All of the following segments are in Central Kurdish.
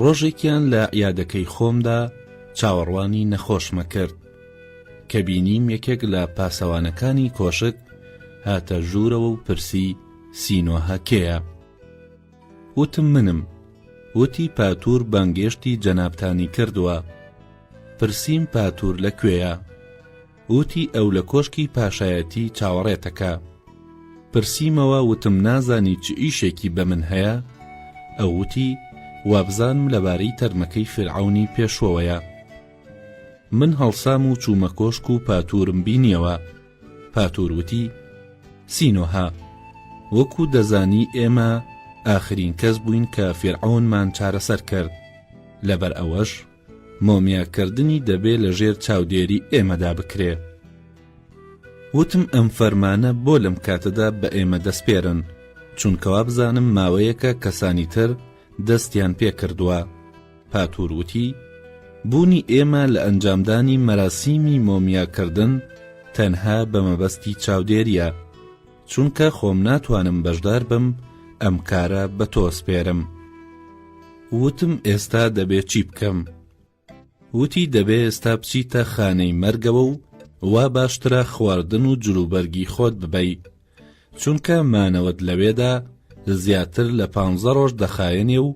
ڕۆژێکیان لە عیادەکەی خۆمدا چاوەڕوانی نەخۆشمە کرد کە بینیم یەکێک لە پاسەوانەکانی کۆشک هاتە ژوورەوە و پرسی سینۆهە کێە وتم منم وتی پاتور بانگێشتی جەنابتانی کردووە پرسییم پاتور لە کوێیە وتی ئەو لە کۆشکی پاشایەتی چاوەڕێتەکە پرسیمەوە وتم نازانی چ ئیشێکی بە من هەیە ئەو وتی وابزانم لەبارەی تەرمەکەی فیرعەونی پێشوەوەیە من هەڵسام و چوومە کۆشک و پاتورم بینیەوە پاتور وتی سینۆها وەکو دەزانی ئێمە ئاخرین کەس بووین کە فێرعونمان چارەسەر کرد لەبەر ئەوەش مۆمیاکردنی دەبێ لە ژێر چاودێری ئێمەدا بکرێ. وتم ئەم فەرمانە بۆ لەم کاتەدا بە ئێمە دەسپێرن، چونکە وابزانم ماوەیەکە کەسانی تر دەستیان پێ کردووە. پاتور وتی، بوونی ئێمە لە ئەنجامدانی مەراسیمی مۆمیاکردن تەنها بە مەبەستی چاودێرییە. چونکە خۆم ناتوانم بەشدار بم ئەم کارە بە تۆ سپێرم وتم ئێستا دەبێ چی بکەم وتی دەبێ ئێستا بچیتە خانەی مەرگەوە و وا باشترە خواردن و جلوبەرگی خۆت ببەی چونکە مانەوەت لەوێدا زیاتر لە پ ڕۆژ دەخایەنێ و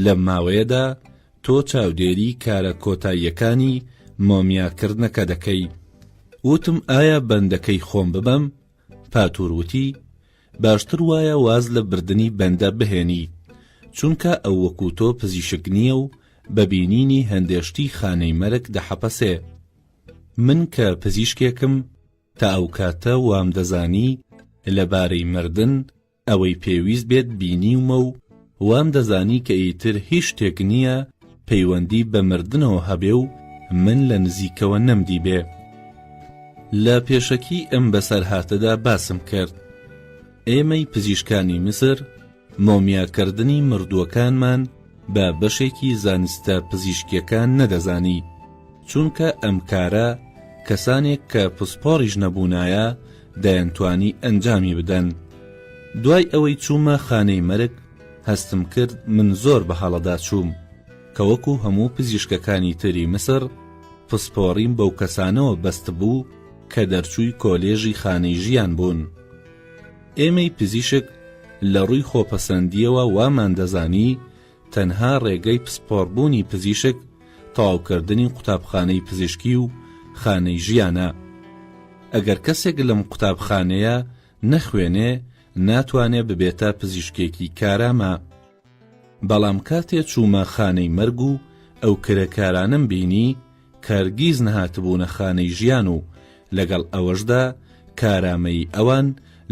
لە ماوەیەدا تۆ چاودێری کارە کۆتاییەکانی مۆمیاکردنەکە دەکەی وتم ئایا بەندەکەی خۆم ببەم پاتور وتی، باشتر وایە واز لە بردنی بەندە بهێنی، چونکە ئەو وەکو تۆ پزیشک نییە و بە بینینی هەندێ شتی خانەی مەرگ دەحەپەسێ. من کە پزیشکێکم، تا ئەو کاتە وام دەزانی لە بارەی مردن، ئەوەی پێویست بێت بینیومە و وام دەزانی کە ئیتر هیچ شتێک نییە پەیوەندی بە مردنەوە هەبێ و من لە نزیکەوە نەمدیبێ. لە پێشەکیی ئەم بەسەرهاتەدا باسم کرد، ئێمەی پزیشکانی میسر مۆمیاکردنی مردووەکانمان بە بەشێکی زانستە پزیشکییەکان نەدەزانی، چونکە ئەم کارە کەسانێک کە پسپۆڕیش نەبوونایە دەیانتوانی ئەنجامی بدەن دوای ئەوەی چوومە خانەی مەرگ هەستم کرد من زۆر بە هەڵەدا چووم کە وەکو هەموو پزیشکەکانی تری مسر پسپۆڕیم بەو کەسانەوە بەست بوو کە دەرچووی کۆلێژی خانەی ژیان بوون ئێمەی پزیشک لە ڕووی خۆپەسەندیەوە وامان دەزانی تەنها ڕێگەی پسپۆڕبوونی پزیشک تەواوکردنی قوتابخانەی پزیشکی و خانەی ژیانە. ئەگەر کەسێک لەم قوتابخانەیە نەخوێنێ ناتوانێ ببێتە پزیشکێکی کارامە. بەڵام کاتێ چوومە خانەی مەرگ و ئەو کرێکارانەم بینی کە هەرگیز نەهاتبوونە خانەی ژیان و لەگەڵ ئەوەشدا کارامەیی ئەوان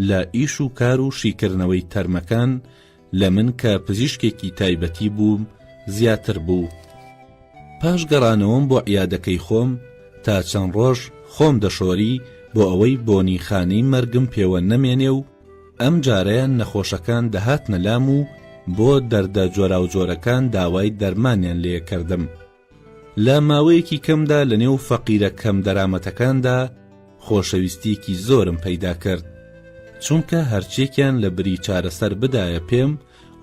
لە ئیش و کار و شیکردنەوەی تەرمەکان لە من کە پزیشکێکی تایبەتی بووم زیاتر بوو پاش گەڕانەوەم بۆ عیادەکەی خۆم تا چەند ڕۆژ خۆم دەشۆری بۆ ئەوەی بۆنی خانەی مەرگم پێوە نەمێنێ و ئەم جارەیان نەخۆشەکان دەهاتنە لام و بۆ دەردە جۆراوجۆرەکان داوای دەرمانیان لێ کردم لە ماوەیەکی کەمدا لە نێو فەقیرە کەم دەرامەتەکاندا خۆشەویستیەکی زۆرم پەیدا کرد چونکە هەرچێکیان لە بری چارەسەر بدایە پێم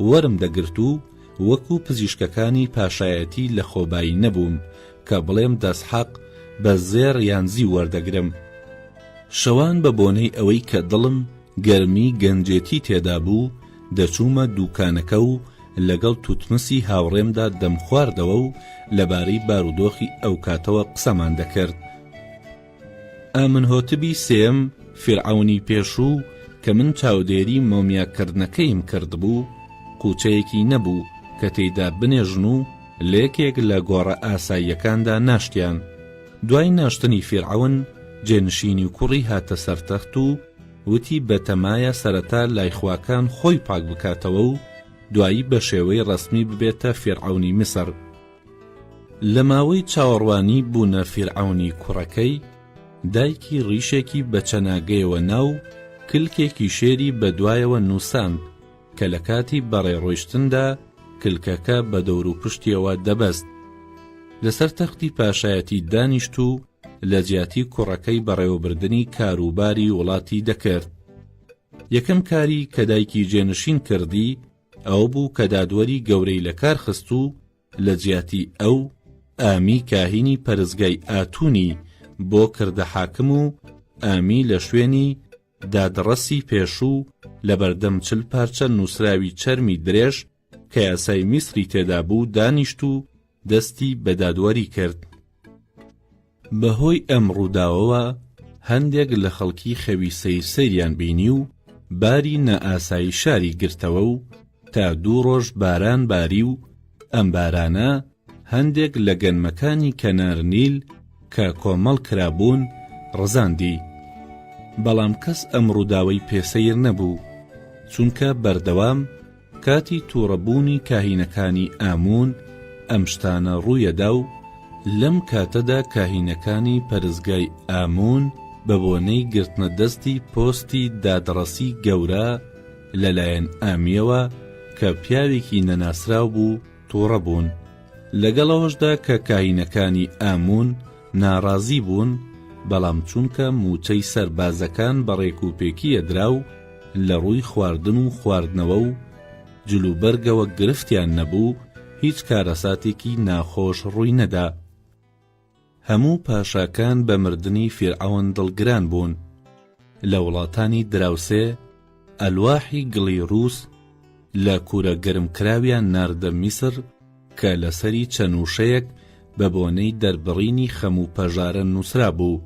وەرم دەگرت و وەکو پزیشکەکانی پاشایەتی لە خۆبایی نەبووم کە بڵێم دەسحەق بە زێڕ یان زیو وەردەگرم شەوان بە بۆنەی ئەوەی کە دڵم گەرمی گەنجێتی تێدا بوو، دەچوومە دووکانەکە و لەگەڵ توتمسی هاوڕێمدا دەمخواردەوە و لەبارەی بارودۆخی ئەوکاتەوە قسەمان دەکرد. ئامنهۆتبی سێم، فیرعەونی پێشوو، کە من چاودێری مۆمیاکردنەکەیم کردبوو، قووچەیەکی نەبوو کە تێیدا بنێژن و لە یەکێک لە گۆڕە ئاساییەکاندا ناشتیان. دوای ناشتنی فیرعەون، جێنشینی کوڕی هاتە سەر تەخت و، وتی بەتەمایە سەرەتا لای خواکان خۆی پاک بکاتەوە و دوایی بە شێوەی ڕەسمی ببێتە فیرعەونی میسر. لە ماوەی چاوەڕوانی بوونە فیرعەونی کوڕەکەی، دایکی ڕیشێکی بە چەناگەیەوە نا و کلکێکی شێری بە دوایەوە نووساند کە لە کاتی بەڕێ ڕۆیشتندا کلکەکە بە دەوروپشتیەوە دەبەست. لەسەر تەختی پاشایەتی دانیشت و، لە جیاتی کوڕەکەی بەڕێوەبردنی کاروباری وڵاتی دەکرد. یەکەم کاری کە دایکی جێنشین کردی ئەوە بوو کە دادوەری گەورەی لە کار خست و لە جیاتی ئەو ئامی کاهینی پەرستگای ئاتونی بۆ کردە حاکم و ئامی لە شوێنی دادڕەسی پێشوو لە بەردەم چل پارچە نووسراوی چەرمی درێژ کە یاسای میسری تێدا بوو دانیشت و دەستی بە دادوەری کرد بەهۆی ئەم ڕووداوەوە هەندێک لە خەڵکی خەوی سیر سریان بینی و باری نائاسایی شاری گرتەوە و تا دوو ڕۆژ باران باری و ئەم بارانە هەندێک لە گەنمەکانی کەنار نیل کە کۆمەڵ کرابوون ڕزاندی، بەڵام کەس ئەم ڕووداوەی پێ سەیر نەبوو، چونکە بەردەوام کاتی تووڕە بوونی کاهینەکانی ئاموون ئەم شتانە ڕوویەدا و لەم کاتەدا کاهینەکانی پەرستگای ئاموون بە بۆنەی گرتنە دەستی پۆستی دادڕەسی گەورە لە لایەن ئامیەوە کە پیاوێکی نەناسراو بوو تووڕە بوون، لەگەڵ ئەوەشدا کە کاهینەکانی ئاموون ناڕازی بوون، بەڵام چونکە مووچەی سەربازەکان بە ڕێکوپێکی ئەدرا و لە ڕووی خواردن و خواردنەوە و جلوبەرگەوە گرفتیان نەبوو، هیچ کارەساتێکی ناخۆش ڕووی نەدا. هەموو پاشاکان بە مردنی فیرعەون دڵگران بوون. لە وڵاتانی دراوسێ، ئەلواحی گڵی رووس لە کوورە گەرمکراویان ناردە میسر کە لەسەری چەند وشەیەک بە بۆنەی دەربڕینی خەم و پەژارە نووسرابوو.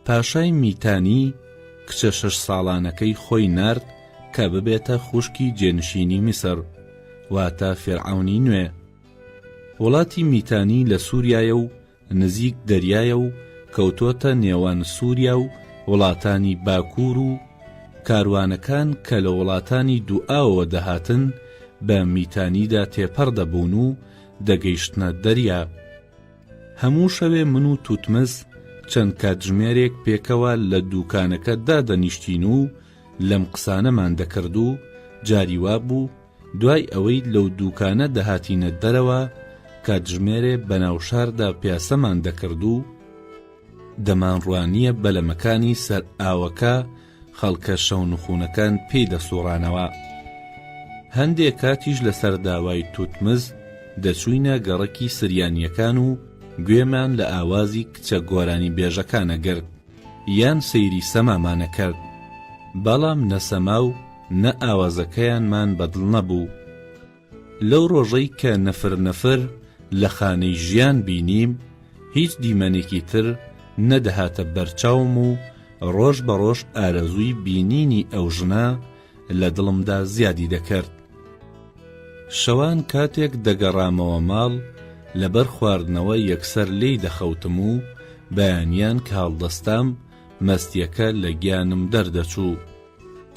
پاشای میتانی کچە شەش ساڵانەکەی خۆی نارد کە ببێتە خوشکی جێنشینی میسر، واتە فیرعەونی نوێ. وڵاتی میتانی لە سووریایە و نزیک دەریایە و کەوتۆتە نێوان سووریا و وڵاتانی باکوور و کاروانەکان کە لە وڵاتانی دووئاوەوە دەهاتن بە میتانیدا تێپەڕ دەبوون و دەگەیشتنە دەریا. هەموو شەوێ من و توتمز چەند کاتژمێرێک پێکەوە لە دووکانەکە دادەنیشتین و لەم قسانەمان دەکرد و جاری وا بوو دوای ئەوەی لەو دووکانە دەهاتینە دەرەوە کاتژمێرێ بەناو شاردا پیاسەمان دەکرد و دەمانڕوانییە بەلەمەکانی سەر ئاوەکە خەڵکە شەونخوونەکان پێی دەسووڕانەوە. هەندێ کاتیش لەسەر داوای توتمز دەچووینە گەڕەکی سریانییەکان و گوێمان لە ئاوازی کچە گۆرانیبێژەکان ئەگرت یان سەیری سەمامان ئەکرد. بەڵام نە سەما و نە ئاوازەکەیانمان بەدڵ نەبوو. لەو ڕۆژەی کە نەفر نەفر لە خانەی ژیان بینیم، هیچ دیمەنێکی تر نەدەهاتە بەرچاوم و ڕۆژ بە ڕۆژ ئارەزووی بینینی ئەو ژنە لە دڵمدا زیادی دەکرد. شەوان کاتێک دەگەڕامەوە ماڵ، لەبەر خواردنەوە یەکسەر لێی دەخەوتم و بەیانیان کە هەڵدەستام، مەستییەکە لە گیانم دەردەچوو.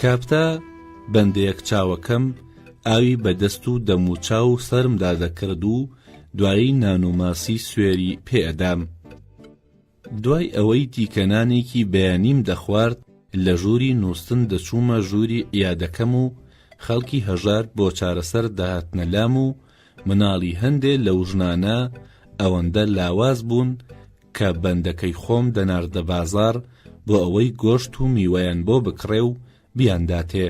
کاپتا بەندەیەک چاوەکەم ئاوی بە دەست و دەم و چاو و سەرمدا دەکرد و دوایی نان و ماسی سوێری پێ ئەدام. دوای ئەوەی تیکە نانێکی بەیانیم دەخوارد لە ژووری نووستن دەچوومە ژووری عیادەکەم و خەڵکی هەژار بۆ چارەسەر دەهاتنە لام و مناڵی هەندێ لەو ژنانە ئەوەندە لاواز بوون کە بەندەکەی خۆم دەناردە بازاڕ بۆ ئەوەی گۆشت و میوەیان بۆ بکڕێ و بیانداتێ.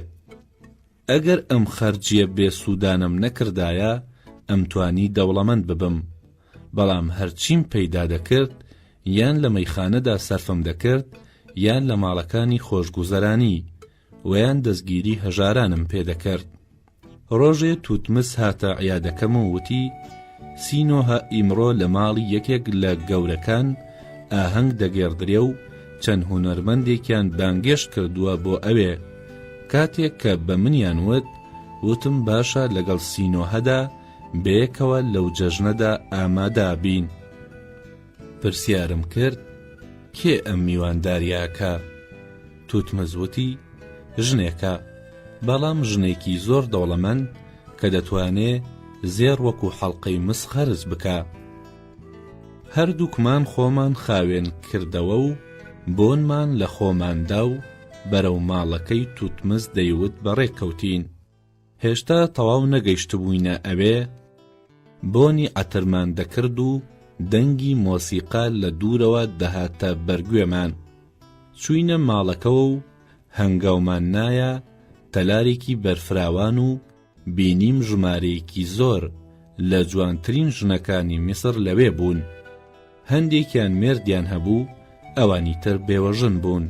ئەگەر ئەم خەرجییە بێ سوودانەم نەکردایە، ئەمتوانی دەوڵەمەند ببم. بەڵام هەرچیم پەیدا دەکرد، یان لە مەیخانەدا سەرفم دەکرد، یان لە ماڵەکانی خۆشگوزەرانی، وەیان دەستگیری هەژارانم پێ دەکەرد ڕۆژێ توتمس هاتە عیادەکەم و وتی سینۆهە ئیمڕۆ لە ماڵی یەکێک لە گەورەکان ئاهەنگ دەگێڕدرێ و چەند هونەرمەندێکیان بانگێشت کردووە بۆ ئەوێ کاتێک کە بە منیان وت وتم باشە لەگەڵ سینۆهەدا بەیەکەوە لەو جەژنەدا ئامادابین. پرسیارم کرد کێ ئەم میوانداریە ئەکا توتمز وتی ژنێکە بەڵام ژنێکی زۆر دەوڵەمەند کە دەتوانێ زێڕ وەکو حەڵقەی مس قەرز بکا هەردووکمان خۆمان خاوێن کردەوە و بۆنمان لە خۆماندا و بەرەو ماڵەکەی توتمز دەیوت بەڕێکەوتین هێشتا تەواو نەگەیشتبووینە ئەوێ، بۆنی عەترمان دەکرد و دەنگی مۆسیقا لە دوورەوە دەهاتە بەر گوێمان. چووینە ماڵەکەوە و هەنگاومان نایە تەلارێکی بەرفراوان و بینیم ژمارەیەکی زۆر لە جوانترین ژنەکانی میسر لەوێ بوون. هەندێکیان مێردیان هەبوو، ئەوانی تر بێوەژن بوون.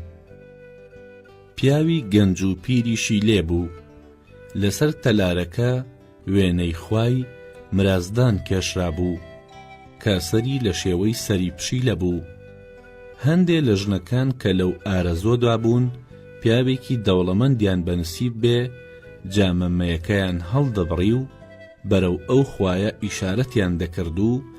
پیاوی گەنج و پیریشی لێ بوو. لەسەر تەلارەکە وێنەی خوای، مرازدان، کێشرابوو، کە سەری لە شێوەی سەری پشیلە بوو. هەندێ لە ژنەکان کە لەو ئارەزوەدا بوون پیاوێکی دەوڵەمەندیان بە نسیب بێ، جامە مەیەکەیان هەڵدەبڕی و بەرەو ئەو خوایە ئیشارەتیان دەکرد و،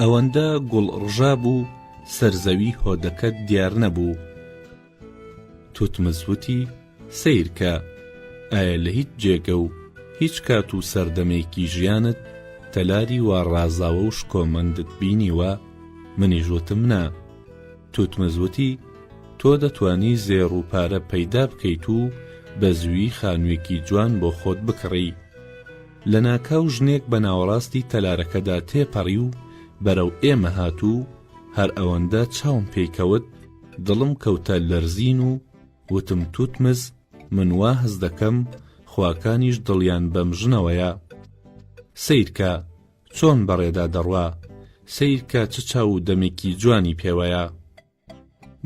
ئەوەندە گوڵ ڕژابوو سەر زەوی هۆدەکەت دیار نەبوو توتمز وتی سەیرکە ئایا لە هیچ جێگە و هیچ کات و سەردەمێکی ژیانت تەلاری وا ڕازاوە و شکۆمەندت بینیوە منیش وتم نا توتمز وتی تۆ دەتانی زێڕ و پارە پەیدا بکەیت و بە زووی خانوویەکی جوان بۆ خۆت بکڕی لەناکاو ژنێک بە ناوەڕاستی تەلارەکەدا تێپەڕی و بەرەو ئێمە هات و هەر ئەوەندە چاوم پێی کەوت دڵم کەوتە لەرزین و وتم توتمز من وا هەست دەکەم خواکانیش دڵیان بەم ژنەوەیە. سەیرکە چۆن بەڕێدا دەڕوا، سەیرکە چ چاو و دەمێکی جوانی پێوەیە.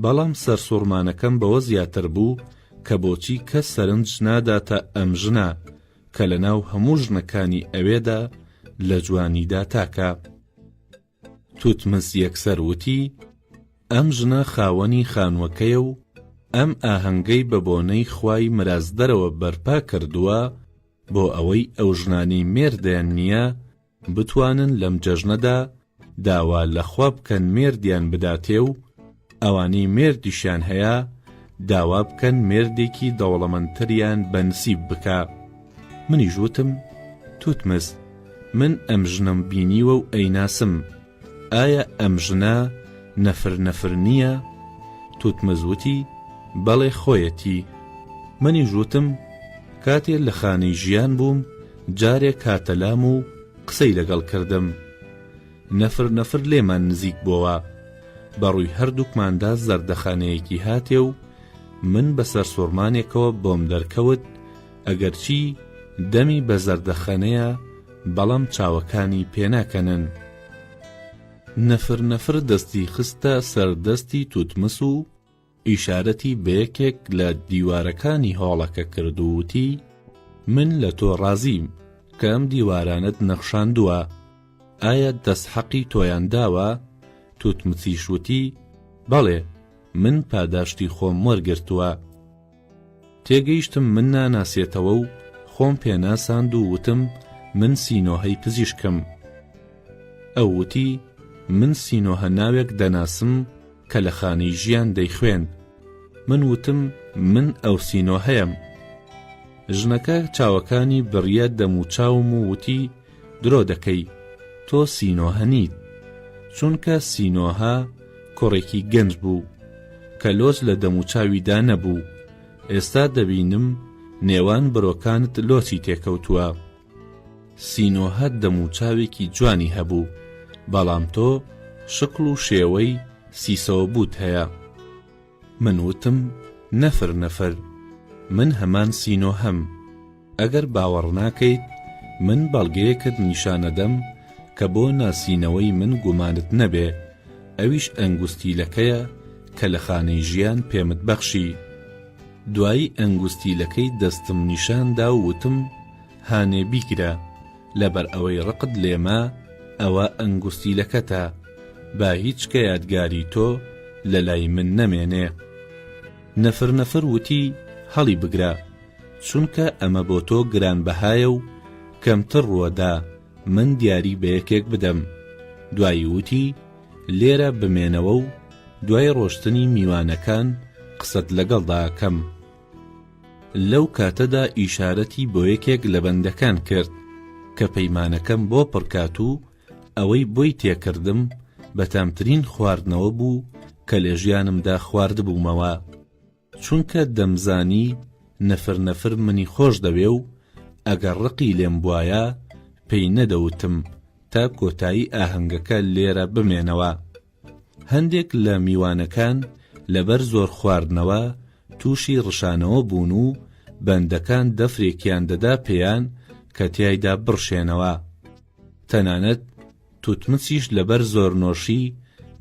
بەڵام سەرسوڕمانەکەم بەوە زیاتر بوو کە بۆچی کەس سەرنج ناداتە ئەم ژنە کە لە ناو هەموو ژنەکانی ئەوێدا لە جوانیدا تاکە. توتمس یەکسەر وتی، ئەم ژنە خاوەنی خانووەکەیە و ئەم ئاهەنگەی بە بۆنەی خوای مرازدەرەوە بەرپا کردووە بۆ ئەوەی ئەو ژنانەی مێردیان نییە بتوانن لەم جەژنەدا داوا لە خوا بکەن مێردیان بداتێ و ئەوانەی مێردیشیان هەیە داوا بکەن مێردێکی دەوڵەمەندتریان بەنسیب بکا منیش وتم توتمس من ئەم ژنەم بینیوە و ئەیناسم ئایا ئەم ژنە نەفر نەفر نییە؟ توتمز وتی، بەڵێ خۆیەتی. منیش وتم، کاتێ لە خانەی ژیان بووم جارێک هاتە لام و قسەی لەگەڵ کردم. نەفر نەفر لێمان نزیک بۆوە. بە ڕووی هەردووکماندا زەردەخەنەیەکی هاتێ و من بە سەرسوڕمانێکەوە بۆم دەرکەوت، ئەگەرچی دەمی بە زەردەخەنەیە، بەڵام چاوەکانی پێناکەنن. نفر نفر دەستی خستە سەر دەستی توتمس و ئیشارەتی بە یەکێک لە دیوارەکانی هۆڵەکە کرد و وتی، من لە تۆ ڕازیم کە ئەم دیوارانەت نەخشاندووە، ئایا دەستحەقی تۆیان داوە؟ توتمسیش وتی، بەڵێ، من پاداشتی خۆم وەرگرتووە. تێگەیشتم من ناناسێتەوە و خۆم پێناساند و وتم من سینۆهەی پزیشکم. ئەو وتی، من سینۆهە ناوێک دەناسم کە لە خانەی ژیان دەیخوێند. من وتم من ئەو سینۆهەیەم. ژنەکە چاوەکانی بڕیە دەموچاوم و وتی، درۆ دەکەی تۆ سینۆهە نیت چونکە سینۆهە کوڕێکی گەنج بوو کە لۆچ لە دەموچاویدا نەبوو ئێستا دەبینم نێوان برۆکانت لۆچی تێکەوتووە سینۆهە دەموچاوێکی جوانی هەبوو بەڵام تۆ شکڵ و شێوەی سیسەوە بوت هەیە من وتم نەفر نەفر من هەمان سینۆهەم ئەگەر باوەڕناکەیت من بەڵگەیەکت نیشانەدەم کە بۆ ناسینەوەی من گومانت نەبێ ئەویش ئەنگوستیلەکەیە کە لە خانەی ژیان پێمت بەخشی دوایی ئەنگوستیلەکەی دەستم نیشاندا و وتم هانێ بیگرە لەبەر ئەوەی ڕقت لێمە ئەوە ئەنگوستیلەکەتە با هیچ کە یادگاری تۆ لە لای من نەمێنێ نەفر نەفر وتی هەڵی بگرە چونکە ئەمە بۆ تۆ گرانبەهایە و کەمتر ڕووەدا من دیاری بە یەکێک بدەم دوایی وتی لێرە بمێنەوە و دوای ڕۆشتنی میوانەکان قسەت لەگەڵدا کەم لەو کاتەدا ئیشارەتی بۆ یەکێک لە بەندەکان کرد کە پەیمانەکەم بۆ پڕکات و ئەوەی بۆی تێکردم بە تامترین خواردنەوە بوو کە لە ژیانمدا خواردبوومەوە چونکە دەمزانی نەفر نەفر منی خۆش دەوێ و ئەگەر ڕقی لێم بوایە پێی نەدەوتم تا کۆتایی ئاهەنگەکە لێرە بمێنەوە هەندێک لە میوانەکان لەبەر زۆر خواردنەوە تووشی ڕشانەوە بوون و بەندەکان دەفرێکیان دەدا پێیان کە تیایدا بڕشێنەوە. تەنانەت توتمسیش لەبەر زۆرنۆشی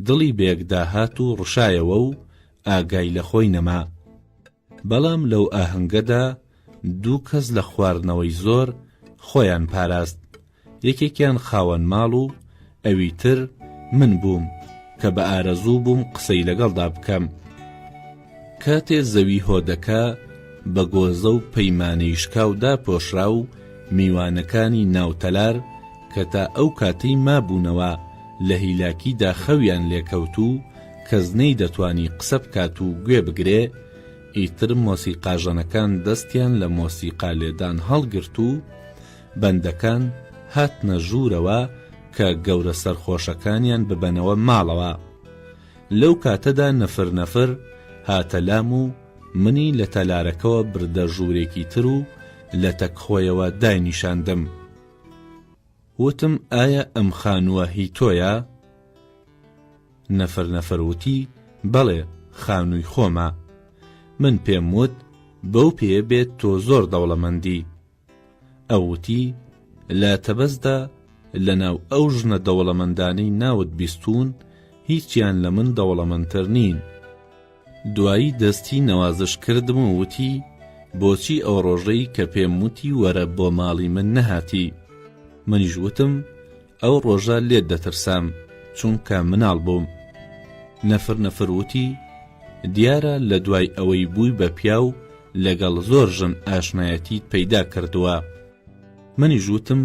دڵی بەیەکداهات و ڕشایەوە و ئاگای لە خۆی نەما. بەڵام لەو ئاهەنگەدا دوو کەس لە خواردنەوەی زۆر خۆیان پاراست، یەکێکیان خاوەن ماڵ و ئەوی تر من بووم کە بە ئارەزوو بووم قسەی لەگەڵدا بکەم. کاتێ زەوی هۆدەکە بە گۆزە و پەیمانەی شکاو داپۆشرا و میوانەکانی ناو تەلار کە تا ئەو کاتەی مابوونەوە لە هیلاکیدا خەویان لێکەوت و کەس نەی دەتوانی قسە بکات و گوێ بگرێ، ئیتر مۆسیقاژەنەکان دەستیان لە مۆسیقا لێدان هەڵگرت و بەندەکان هاتنە ژوورەوە کە گەورە سەرخۆشەکانیان ببەنەوە ماڵەوە. لەو کاتەدا نفر نفر هاتە لام و منی لە تەلارەکەوە بردە ژوورێکی تر و لەتەک خۆیەوە داینیشاندم. وتم ئایا ئەم خانووە هی تۆیە؟ نەفەر نەفەر وتی بەڵێ خانووی خۆمە. من پێم وت بەو پێیە بێت تۆ زۆر دەوڵەمەندی. ئەو وتی لە تەبەزدا لەناو ئەو ژنە دەوڵەمەندانەی ناوت بیستوون هیچیان لە من دەوڵەمەندتر نین. دوایی دەستی نەوازش کردم و وتی، بۆچی ئەو ڕۆژەی کە پێم وتی وەرە بۆ ماڵی من نەهاتی؟ منیش وتم، ئەو ڕۆژە لێت دەترسام، چونکە مناڵ بووم. نەفر نەفر وتی، دیارە لە دوای ئەوەی بووی بە پیاو لەگەڵ زۆر ژن ئاشنایەتیت پەیدا کردووە. منیش وتم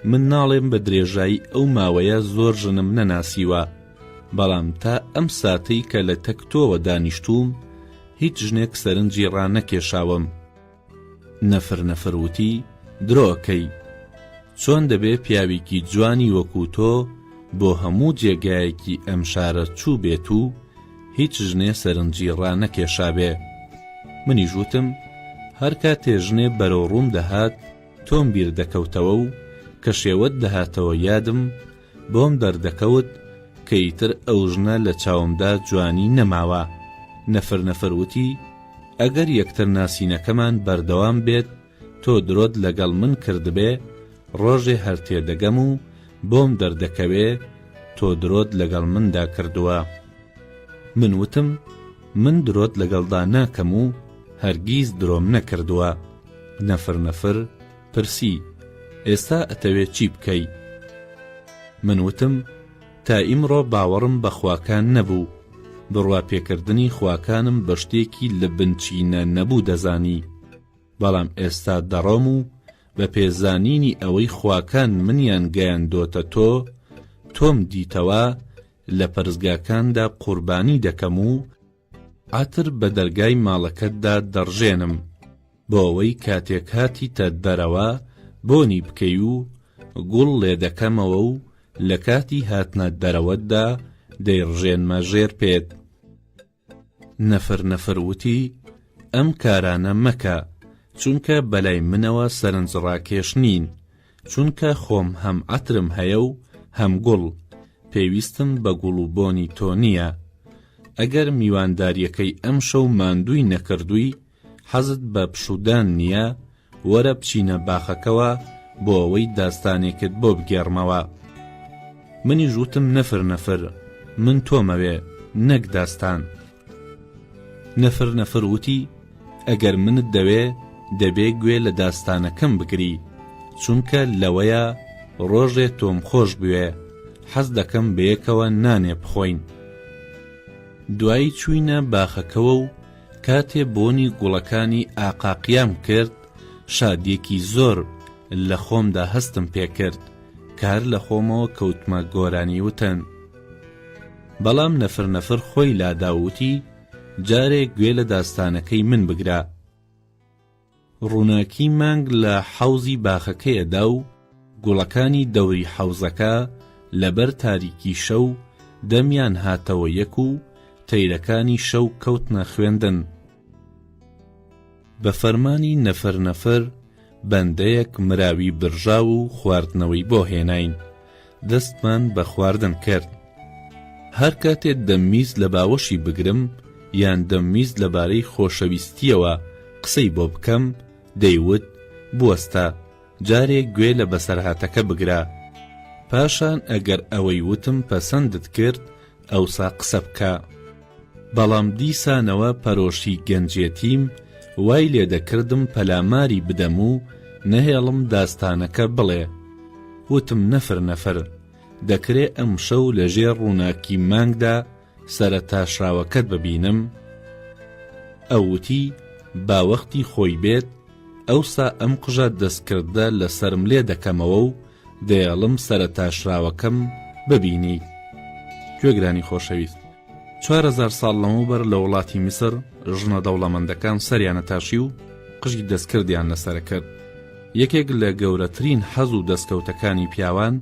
من ناڵێم بە درێژایی ئەو ماوەیە زۆر ژنم نەناسیوە، بەڵام تا ئەم ساتەی کە لە تەک تۆوە دانیشتووم هیچ ژنێک سەرنجی ڕانەکێشاوم. نەفر نەفر وتی، درۆکەی، چۆن دەبێ پیاوێکی جوانی وەکوو تۆ بۆ هەموو جێگایەکی ئەم شارە چووبێت و هیچ ژنێ سەرنجی ڕانەکێشابێ؟ منیش وتم هەر کاتێ ژنێ بەرەو ڕووم دەهات، تۆم بیر دەکەوتەوە و کە شێوەت دەهاتەوە یادم بۆم دەردەکەوت کە ئیتر ئەو ژنە لە چاومدا جوانی نەماوە، نەفر نەفر وتی، ئەگەر یەکتر ناسینەکەمان بەردەوام بێت تۆ درۆت لەگەڵ من کردبێ، ڕۆژێ هەر تێدەگەم و بۆم دەردەکەوێ تۆ درۆت لەگەڵ مندا کردووە. من وتم، من درۆت لەگەڵدا ناکەم و هەرگیز درۆم نەکردووە. نەفر نەفر پرسی، ئێستا ئەتەوێ چی بکەی؟ من وتم، تا ئیمڕۆ باوەڕم بە خواکان نەبوو، بڕوا پێکردنی خواکانم بە شتێکی لە بنچینە نەبوو دەزانی، بەڵام ئێستا دەڕۆم و بە پێ زانینی ئەوەی خواکان منیان گەیاندۆتە تۆ، تۆم دیتەوە لە پەرستگاکاندا قوربانی دەکەم و، عەتر بە دەرگای ماڵەکەتدا دەڕژێنم بۆ ئەوەی کاتێک هاتیتە دەرەوە بۆنی بکەی و گوڵ لێ دەکەمەوە و لە کاتی هاتنە دەرەوەتدا دەیڕژێنمە ژێر پێت. نەفر نەفر وتی، ئەم کارانە مەکە، چونکە بەلای منەوە سەرنجڕاکێش نین. چونکە خۆم هەم عەترم هەیە و هەم گوڵ، پێویستم بە گوڵ و بۆنی تۆ نییە. ئەگەر میواندارییەکەی ئەمشەو ماندووی نەکردووی، حەزت بە پشوودان نییە، وەرە بچینە باخەکەوە بۆ ئەوەی داستانێکت بۆ بگێڕمەوە. منیش وتم نەفر نەفر، من تۆمەوێ، نەک داستان. نەفر نەفر وتی. ئەگەر منت دەوێ دەبێ گوێ لە داستانەکەم بگری چونکە لەوەیە ڕۆژێ تۆم خۆش بوێ حەز دەکەم بەیەکەوە نانێ بخۆین دوایی چوینە باخەکەوە و کاتێ بۆنی گوڵەکانی ئاقاقیام کرد شادیەکی زۆر لە خۆمدا هەستم پێکرد کار لە خۆمەوە کەوتمە گۆرانی وتن بەڵام نەفر نەفر خۆی لاداوتی جارێک گوێ لە داستانەکەی من بگرە. ڕووناکی مانگ لە حەوزی باخەکەیەدا و گوڵەکانی دەوری حەوزەکە لەبەر تاریکی شەو دەمیان هاتەوە یەک و تەیرەکانی شەو کەوتنە خوێندن. بە فەرمانی نەفەر نەفەر بەندەیەک مراوی برژاو و خواردنەوەی بۆ هێناین، دەستمان بە خواردن کرد. هەر کاتێ دەم میز لە باوەشی بگرم یان دەم میز لە بارەی خۆشەویستییەوە قسەی بۆ بکەم، دەیوت، بوەستە، جارێ گوێ لە بەسەرهاتەکە بگرە. پاشان ئەگەر ئەوەی وتم پەسەندت کرد، ئەوسا قسە بکە. بەڵام دیسانەوە پەرۆشی گەنجێتیم وای لێ دەکردم پەلاماری بدەم و نەهێڵم داستانەکە بڵێ. وتم نەفر نەفر، دەکرێ ئەمشەو لە ژێر ڕووناکی مانگدا سەرە تاشراوەکەت ببینم؟ ئەو وتی با وەختی خۆی بێت، ئەوسا ئەم قژە دەستکردە لە سەرم لێ دەکەمەوە و دەیەڵم سەرە تاشراوەکەم ببینیت گوێگرانی خۆشەویست چوار هەزار ساڵ لەمەوبەر لە وڵاتی میسر ژنە دەوڵەمەندەکان سەریانە تاشی و قژی دەستکردیان لەسەر کرد یەکێک لە گەورەترین حەز و دەستکەوتەکانی پیاوان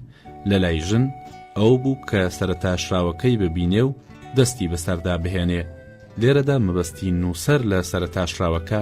لە لای ژن ئەو بوو کە سەرتاشراوەکەی ببینێ و دەستی بەسەردا بهێنێ لێرەدا مەبەستی نووسەر لە سەرتاشراوەکە